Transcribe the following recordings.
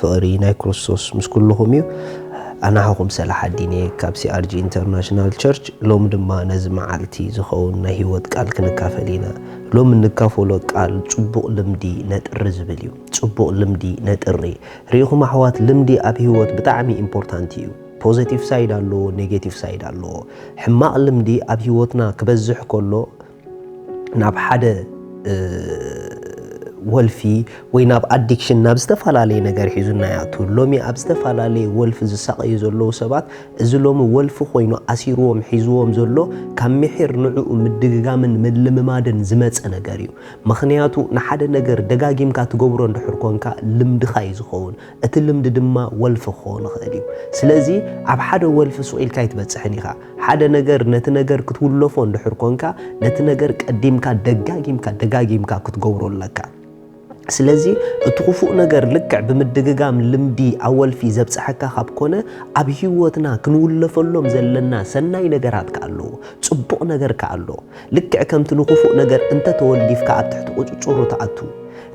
ፍቕሪ ናይ ክርስቶስ ምስ ኩልኹም እዩ። ኣናህኹም ሰላሓዲን እየ ካብ CRG International Church ሎሚ ድማ ነዚ መዓልቲ ዝኸውን ናይ ህይወት ቃል ክንካፈል ኢና። ሎሚ እንካፈሎ ቃል ጽቡቕ ልምዲ ነጥሪ ዝብል እዩ። ጽቡቕ ልምዲ ነጥሪ። ርኢኹም ኣሕዋት ልምዲ ኣብ ህይወት ብጣዕሚ ኢምፖርታንት እዩ። ፖዘቲቭ ሳይድ ኣለዎ ኔጌቲቭ ሳይድ ኣለዎ። ሕማቕ ልምዲ ኣብ ህይወትና ክበዝሕ ከሎ ናብ ሓደ ወልፊ ወይ ናብ ኣዲክሽን ናብ ዝተፈላለየ ነገር ሒዙና ይኣቱ። ሎሚ ኣብ ዝተፈላለየ ወልፊ ዝሳቐዩ ዘለዉ ሰባት እዚ ሎሚ ወልፊ ኮይኑ ኣሲርዎም ሒዝዎም ዘሎ ካብ ምሒር ንዕኡ ምድግጋምን ምልምማድን ዝመፀ ነገር እዩ። ምኽንያቱ ንሓደ ነገር ደጋጊምካ ትገብሮ እንድሕር ኮንካ ልምድኻ እዩ ዝኸውን። እቲ ልምዲ ድማ ወልፊ ክኸውን ይኽእል እዩ። ስለዚ ኣብ ሓደ ወልፊ ሱቕ ኢልካ ኣይትበፅሕን ኢኻ። ሓደ ነገር ነቲ ነገር ክትውለፎ እንድሕር ኮንካ ነቲ ነገር ቀዲምካ ደጋጊምካ ደጋጊምካ ክትገብሮ ኣለካ። ስለዚ እቲ ክፉእ ነገር ልክዕ ብምድግጋም ልምዲ ኣወልፊ ዘብጽሐካ ካብ ኮነ ኣብ ህይወትና ክንውለፈሎም ዘለና ሰናይ ነገራት ከኣ ኣለዉ። ጽቡቕ ነገር ከኣ ኣሎ። ልክዕ ከምቲ ንኽፉእ ነገር እንተ ተወሊፍካ ኣብ ትሕቲ ቁጽጽሩ ትኣቱ፣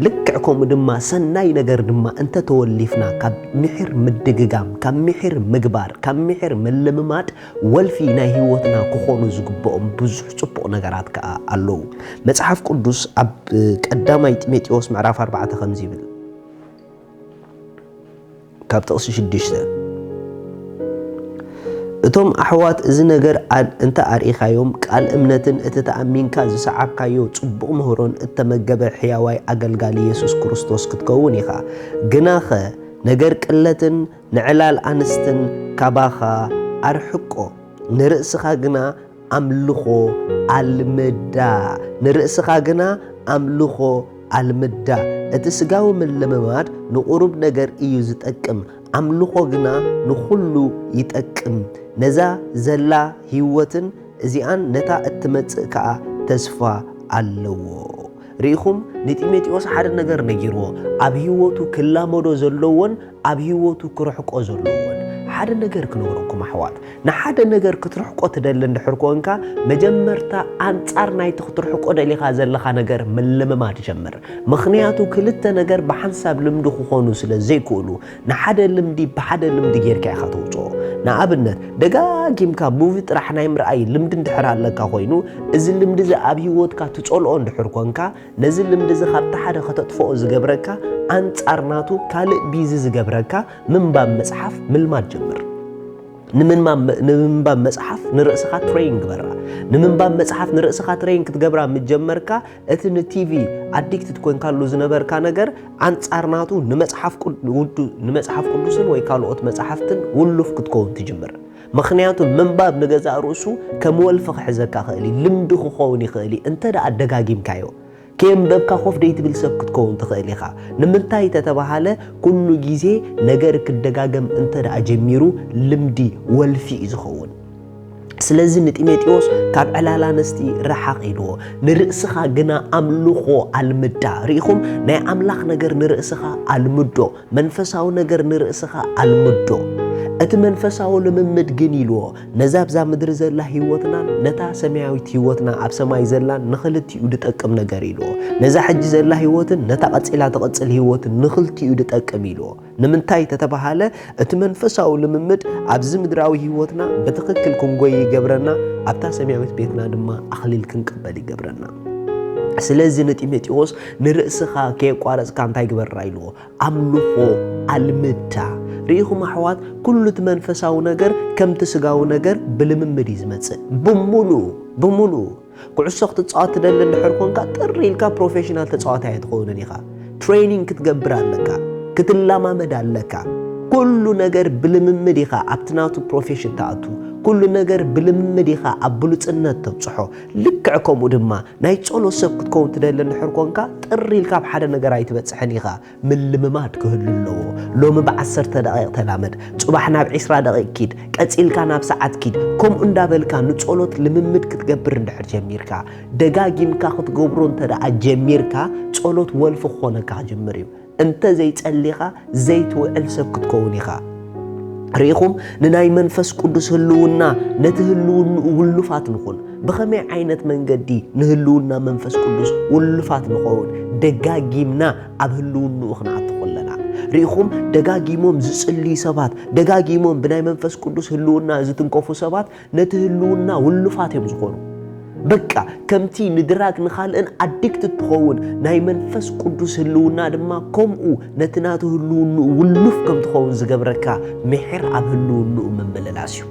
ልክዕ ከምኡ ድማ ሰናይ ነገር ድማ እንተ ተወሊፍና ካብ ምሒር ምድግጋም፣ ካብ ምሒር ምግባር፣ ካብ ምሒር ምልምማድ ወልፊ ናይ ህይወትና ክኾኑ ዝግብኦም ብዙሕ ጽቡቕ ነገራት ከኣ ኣለዉ። መጽሓፍ ቅዱስ ኣብ ቀዳማይ ጢሞቴዎስ ምዕራፍ ኣርባዕተ ከምዚ ይብል። ካብ ጥቕሲ ሽዱሽተ፣ እቶም ኣሕዋት እዚ ነገር እንተ ኣርኢኻዮም፣ ቃል እምነትን እቲ ተኣሚንካ ዝሰዓብካዮ ጽቡቕ ምህሮን እተመገበ ሕያዋይ ኣገልጋሊ የሱስ ክርስቶስ ክትከውን ኢኻ። ግናኸ ነገር ቅለትን ንዕላል ኣንስትን ካባኻ ኣርሕቆ፣ ንርእስኻ ግና ኣምልኾ ኣልምዳ፣ ንርእስኻ ግና ኣምልኾ ኣልምዳ። እቲ ስጋዊ ምልምማድ ንቝሩብ ነገር እዩ ዚጠቅም፣ ኣምልኾ ግና ንዅሉ ይጠቅም። ነዛ ዘላ ህይወትን እዚኣን ነታ እትመጽእ ከኣ ተስፋ ኣለዎ። ርኢኹም፣ ንጢሞቴዎስ ሓደ ነገር ነጊርዎ፣ ኣብ ህይወቱ ክላመዶ ዘለዎን ኣብ ህይወቱ ክርሕቆ ዘለዎን። ሓደ ነገር ክነግረኩም ኣሕዋት፣ ንሓደ ነገር ክትርሕቆ ትደሊ እንድሕር ኮንካ፣ መጀመርታ ኣንጻር ናይቲ ክትርሕቆ ደሊኻ ዘለኻ ነገር ምልምማድ ጀምር። ምኽንያቱ ክልተ ነገር ብሓንሳብ ልምዲ ክኾኑ ስለ ዘይክእሉ። ንሓደ ልምዲ ብሓደ ልምዲ ጌርካ ኢኻ ተውጽኦ። ንኣብነት፣ ደጋጊምካ ሙቪ ጥራሕ ናይ ምርኣይ ልምዲ እንድሕር ኣለካ ኮይኑ፣ እዚ ልምዲ እዚ ኣብ ህይወትካ ትጸልኦ እንድሕር ኮንካ፣ ነዚ ልምዲ እዚ ካብቲ ሓደ ከተጥፍኦ ዝገብረካ ኣንጻር ናቱ ካልእ ቢዚ ዝገብረካ ምንባብ መጽሓፍ ምልማድ ጀምር። ንምንባብ መጽሓፍ ንርእስኻ ትረይን ግበራ። ንምንባብ መጽሓፍ ንርእስኻ ትረይን ክትገብራ ምስ ጀመርካ፣ እቲ ንቲቪ ኣዲክትድ ኮንካሉ ዝነበርካ ነገር ኣንጻር ናቱ ንመጽሓፍ ቅዱስን ወይ ካልኦት መጽሓፍትን ውሉፍ ክትከውን ትጅምር። ምክንያቱ ምንባብ ንገዛእ ርእሱ ከም ወልፊ ክሕዘካ ክእል እዩ፣ ልምዲ ክኸውን ይኽእል እዩ እንተ ደኣ ደጋጊምካዮ። ከየንበብካ ኮፍ ደይትብል ሰብ ክትከውን ትኽእል ኢኻ። ንምንታይ ተተባሃለ ኩሉ ግዜ ነገር ክደጋገም እንተ ደኣ ጀሚሩ ልምዲ፣ ወልፊ፣ እዩ ዝኸውን። ስለዚ ንጢሞቴዎስ ካብ ዕላል ኣንስቲ ረሓቕ ኢልዎ፣ ንርእስኻ ግና ኣምልኾ ኣልምዳ። ርኢኹም? ናይ ኣምላኽ ነገር ንርእስኻ ኣልምዶ፣ መንፈሳዊ ነገር ንርእስኻ ኣልምዶ። እቲ መንፈሳዊ ልምምድ ግን ኢልዎ፣ ነዛ ኣብዛ ምድሪ ዘላ ህይወትናን ነታ ሰማያዊት ህይወትና ኣብ ሰማይ ዘላን ንኽልቲኡ ድጠቅም ነገር ኢልዎ። ነዛ ሕጂ ዘላ ህይወትን ነታ ቀጺላ ትቕጽል ህይወትን ንኽልቲኡ ድጠቅም ኢልዎ። ንምንታይ ተተባሃለ እቲ መንፈሳዊ ልምምድ ኣብዚ ምድራዊ ህይወትና ብትኽክል ክንጎይ ይገብረና፣ ኣብታ ሰማያዊት ቤትና ድማ ኣኽሊል ክንቅበል ይገብረና። ስለዚ ንጢሞቴዎስ ንርእስኻ ከየቋረጽካ እንታይ ግበራ ኢልዎ? ኣምልኾ ኣልምዳ። ርኢኹም ኣሕዋት፣ ኩሉ እቲ መንፈሳዊ ነገር ከምቲ ስጋዊ ነገር ብልምምድ እዩ ዝመጽእ፣ ብምሉኡ ብምሉኡ ኩዕሶ ክትጻወት ትደሊ እንድሕር ኮንካ ጥር ኢልካ ፕሮፌሽናል ተጻዋታይ ኣይትኸውንን ኢኻ። ትሬኒንግ ክትገብር ኣለካ፣ ክትለማመድ ኣለካ። ኩሉ ነገር ብልምምድ ኢኻ ኣብቲ ናቱ ፕሮፌሽን ትኣቱ። ኩሉ ነገር ብልምምድ ኢኻ ኣብ ብሉጽነት ተብጽሖ። ልክዕ ከምኡ ድማ ናይ ጸሎት ሰብ ክትከውን ትደሊ እንድሕር ኮንካ ጥር ኢልካ ኣብ ሓደ ነገር ኣይትበጽሕን ኢኻ። ምልምማድ ክህሉ ኣለዎ። ሎሚ ብዓሰርተ ደቒቕ ተላመድ፣ ጽባሕ ናብ ዕስራ ደቒቕ ኪድ፣ ቀጺልካ ናብ ሰዓት ኪድ፣ ከምኡ እንዳበልካ ንጸሎት ልምምድ ክትገብር እንድሕር ጀሚርካ፣ ደጋጊምካ ክትገብሮ እንተደኣ ጀሚርካ፣ ጸሎት ወልፊ ክኾነካ ክጅምር እዩ። እንተ ዘይጸሊኻ ዘይትውዕል ሰብ ክትከውን ኢኻ። ርኢኹም፣ ንናይ መንፈስ ቅዱስ ህልውና ነቲ ህልውንኡ ውሉፋት ንኹን። ብኸመይ ዓይነት መንገዲ ንህልውና መንፈስ ቅዱስ ውሉፋት ንኸውን? ደጋጊምና ኣብ ህልውንኡ ክንኣቱ ኹለና። ርኢኹም፣ ደጋጊሞም ዝጽልዩ ሰባት፣ ደጋጊሞም ብናይ መንፈስ ቅዱስ ህልውና ዝትንከፉ ሰባት፣ ነቲ ህልውና ውሉፋት እዮም ዝኾኑ። በቃ ከምቲ ንድራግ ንኻልእን ኣዲክት እትኸውን ናይ መንፈስ ቅዱስ ህልውና ድማ ከምኡ ነቲ ናቱ ህልውንኡ ውሉፍ ከም ትኸውን ዝገብረካ ምሒር ኣብ ህልውንኡ ምምልላስ እዩ።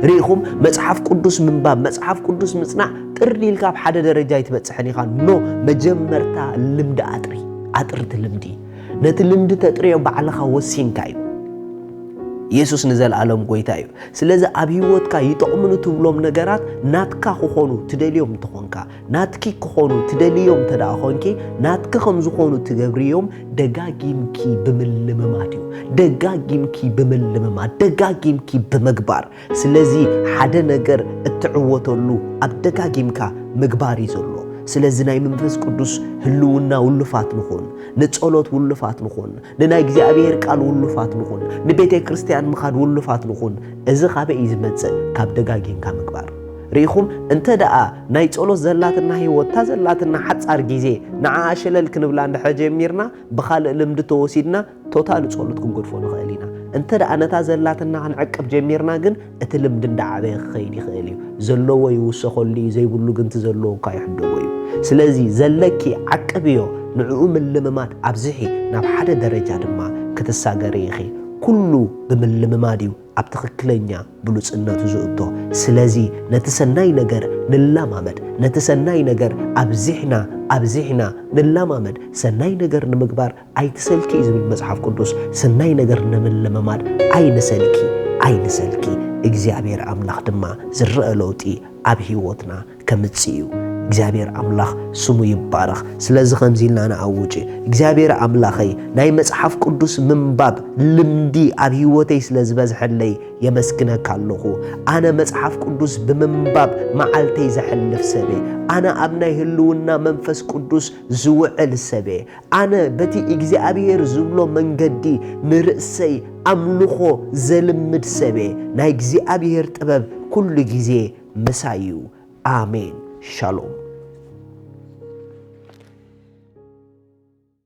ርኢኹም መጽሓፍ ቅዱስ ምንባብ መጽሓፍ ቅዱስ ምጽናዕ ጥርሊ ኢልካ ኣብ ሓደ ደረጃ ኣይትበጽሕን ኢኻ ኖ መጀመርታ ልምዲ ኣጥሪ ኣጥርቲ ልምዲ ነቲ ልምዲ ተጥርዮ ባዕልኻ ወሲንካ እዩ ኢየሱስ ንዘለኣለም ጎይታ እዩ ስለዚ ኣብ ህይወትካ ይጠቕሙኒ ትብሎም ነገራት ናትካ ክኾኑ ትደልዮም እንተኾንካ ናትኪ ክኾኑ ትደልዮም እንተ ደኣ ኾንኪ ናትኪ ከም ዝኾኑ ትገብርዮም ደጋጊምኪ ብምልምማድ እዩ ደጋጊምኪ ብምልምማድ ደጋጊምኪ ብምግባር ስለዚ ሓደ ነገር እትዕወተሉ ኣብ ደጋጊምካ ምግባር እዩ ዘሎ ስለዚ ናይ መንፈስ ቅዱስ ህልውና ውሉፋት ንኹን፣ ንጸሎት ውሉፋት ንኹን፣ ንናይ እግዚኣብሔር ቃል ውሉፋት ንኹን፣ ንቤተ ክርስቲያን ምኻድ ውሉፋት ንኹን። እዚ ካበይ እዩ ዝመጽእ? ካብ ደጋጊምካ ምግባር። ርኢኹም እንተ ደኣ ናይ ጸሎት ዘላትና ህይወት እታ ዘላትና ሓጻር ግዜ ንዓኣ ሸለል ክንብላ እንድሕር ጀሚርና ብኻልእ ልምዲ ተወሲድና ቶታሊ ጸሎት ክንገድፎ ንኽእል ኢና። እንተ ደኣ ነታ ዘላትና ክንዕቅብ ጀሚርና ግን እቲ ልምዲ እንዳዓበየ ክኸይድ ይኽእል እዩ። ዘለዎ ይውሰኸሉ እዩ ዘይብሉ ግን እቲ ዘለዎ እኳ ይሕደጎ እዩ። ስለዚ ዘለኪ ዓቅብዮ ንዕኡ ምልምማድ ኣብዝሒ ናብ ሓደ ደረጃ ድማ ክትሳገሪ ኢኺ። ኩሉ ብምልምማድ እዩ ኣብ ትኽክለኛ ብሉጽነቱ ዝእቶ። ስለዚ ነቲ ሰናይ ነገር ንላማመድ። ነቲ ሰናይ ነገር ኣብዚሕና ኣብዚሕና ንላማመድ። ሰናይ ነገር ንምግባር ኣይትሰልኪ እዩ ዝብል መጽሓፍ ቅዱስ። ሰናይ ነገር ንምልምማድ ኣይንሰልኪ ኣይንሰልኪ። እግዚኣብሔር ኣምላኽ ድማ ዝረኣ ለውጢ ኣብ ሕይወትና ከምጽእ እዩ እግዚኣብሔር ኣምላኽ ስሙ ይባረኽ ስለዚ ከምዚ ኢልና ንኣውጅ እግዚኣብሔር ኣምላኸይ ናይ መጽሓፍ ቅዱስ ምንባብ ልምዲ ኣብ ህይወተይ ስለ ዝበዝሐለይ የመስግነካ ኣለኹ ኣነ መጽሓፍ ቅዱስ ብምንባብ መዓልተይ ዘሕልፍ ሰበ ኣነ ኣብ ናይ ህልውና መንፈስ ቅዱስ ዝውዕል ሰበ ኣነ በቲ እግዚኣብሔር ዝብሎ መንገዲ ንርእሰይ ኣምልኾ ዘልምድ ሰበ ናይ እግዚኣብሔር ጥበብ ኩሉ ግዜ ምሳይ እዩ ኣሜን ሻሎም።